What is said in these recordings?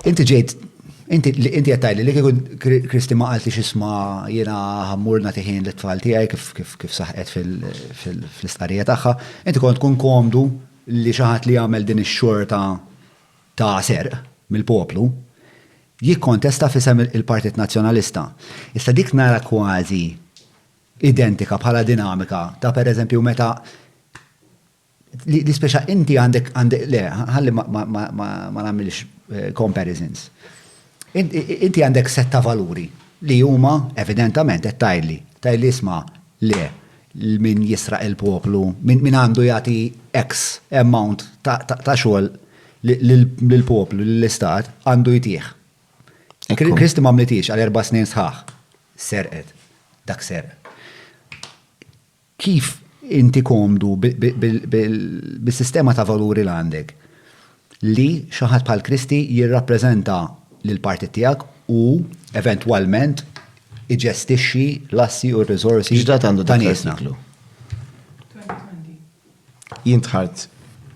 Inti ġejt, inti qed tgħidli li kieku Kristi ma qalti x'isma' jiena ħammur nagħti ħin lit-tfal tiegħi kif saħqet fl-istqarrija tagħha, inti kont tkun komdu li xi ħadd li jagħmel din ix-xorta ta' serq mill-poplu jikkontesta f'isem il-Partit Nazzjonalista. Issa dik nara kważi identika bħala dinamika ta' pereżempju meta Li speċa inti għandek għandek le, ħalli ma nagħmilx eh, comparisons. Inti għandek setta valuri li huma evidentament qed tajli, tajli isma' le min jisraq il-poplu, min għandu jagħti X amount ta' xogħol lill-poplu, lill-istat, għandu jtih. Kristi ma mlitix għal erba' snin sħaħ. Serqet. Dak serq. Kif inti komdu bis-sistema ta' valuri li għandek? Li xi ħadd bħal Kristi jirrappreżenta lill-partit tiegħek u eventwalment iġestixxi l-assi u r-riżorsi ta' niesna. X'dat għandu dak l-artiklu? Jien dħalt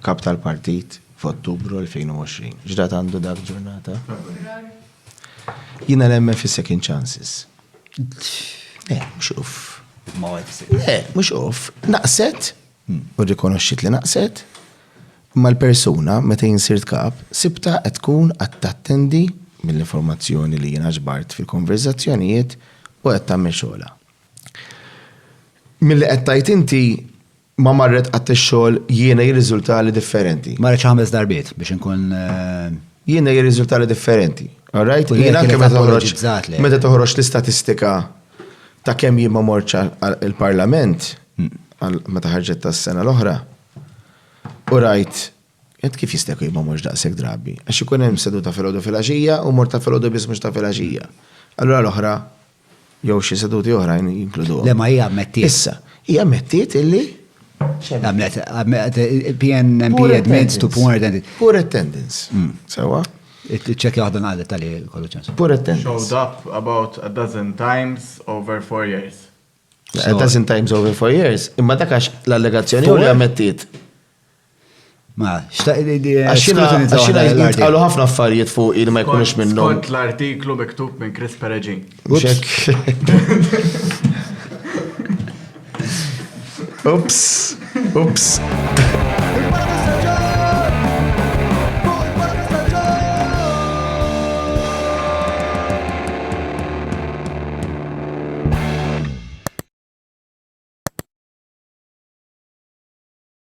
Kap tal-Partit f'Ottubru 2020. X'data għandu dak ġurnata? Frar. Jiena nemmen fis-second chances. Le, mhux uff. Ma għedx. Le, mhux uff. Naqset, u rrikonoxxiet li naqset, imma l-persuna meta jien sirt Kap sibtha qed tkun qed tattendi mill-informazzjoni li jiena ġbart fil-konverżazzjonijiet u qed tagħmel xogħolha. Milli qed tgħid inti ma marret qatt ix-xogħol jiena jirriżultali differenti. Marret xi ħames darbiet biex inkun eh, jiena jirriżultali differenti. All right? Jiena anke meta toħroġ meta toħroġ l-istatistika ta' kemm jien ma morċ il-Parlament hmm. meta ħarġet tas-sena l-oħra. U rajt Ent kif jista' jkun ma morx daqshekk drabi? Għax ikun hemm seduta filgħodu filgħaxija u mort ta' filgħodu biss mhux ta' filgħaxija. Allura l-oħra Jew xi seduti oħrajn jinkluduhom. Le ma hija ammettiet. Issa, hija ammettiet illi Għamlet, PNMP admits to poor attendance. Poor attendance. Hmm. Sewa? Ċekja waħda naqdet tal kollu ċans. Poor attendance. Showed up about a dozen times over four years. A dozen times over four years, imma dakax l-allegazzjoni u l-ammettiet. Ma, xtaq li di. Għaxina jitqalu ħafna affarijiet fuq il ma jkunux minnu. Kont l-artiklu miktub minn Chris Peregin. Ups, ups.